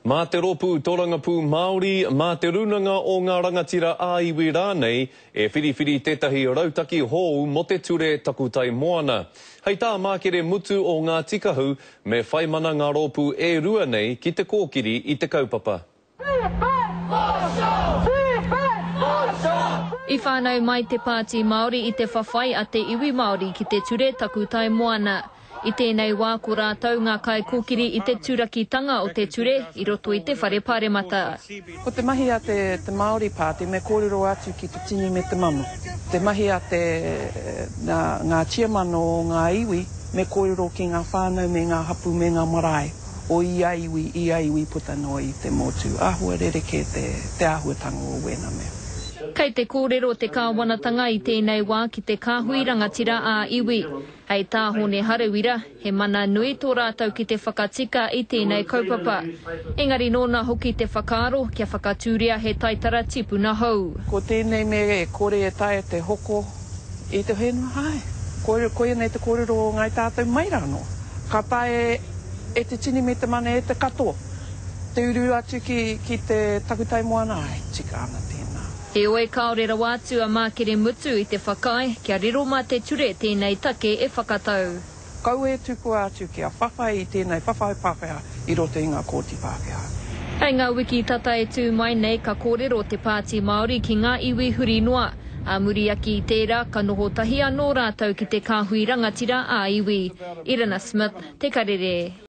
mā te rōpū tōrangapū Māori, mā te rūnanga o ngā rangatira ā-iwi rānei, e whiriwhiri tētahi rautaki hōu mō te ture Takutai Moana. Hei tā Mākere Mutu o Ngāti Kahu, me whai mana ngā rōpū e rua nei ki te kōkiri i te kaupapa. I whānau mai te Pāti Māori i te whawhai a te iwi Māori ki te ture Takutai Moana. I tēnei wā ko rātou ngā kaikōkiri i te turakitanga o te ture i roto i te Whare Pāremata. Ko te mahi a te Māori Pāti me kōrero atu ki te tini me te mano. Te mahi a te ngā tiamano o ngā iwi me kōrero ki ngā whānau me ngā hapū me ngā marae o ia iwi, ia iwi puta noa i te motu. Āhua rerekē te āhuatanga o wēna mea. Kei te kōrero te Kāwanatanga i tēnei wā ki te kāhui rangatira ā-iwi. Hei tā Hōne Harawira, he mana nui tō rātou ki te whakatika i tēnei kaupapa. Engari nōna hoki te whakaaro kia whakatūria he taitara tipuna hou. Ko tēnei mea e kore e taea te hoko i te whenua hae. Koia nei te kōrero o Ngāi Tātou mai rānō. Ka taea e te tini me te mana e te katoa te uru atu ki te takutai moana, āe tika ana tēnā. Heoi, kāore rawa atu a Mākeremutu i te whakaae kia riro mā te ture tēnei take e whakatau. Kaua e tukua atu kia whawhai i tēnei whawhai Pākehā i roto i ngā Kōti Pākehā. Hei ngā wiki tata e tū mai nei ka kōrero te Pāti Māori ki ngā iwi huri noa. Ā muri ake i tērā, ka noho tahi anō rātou ki te kāhui rangatira ā-iwi. Irina Smith, Te Karere.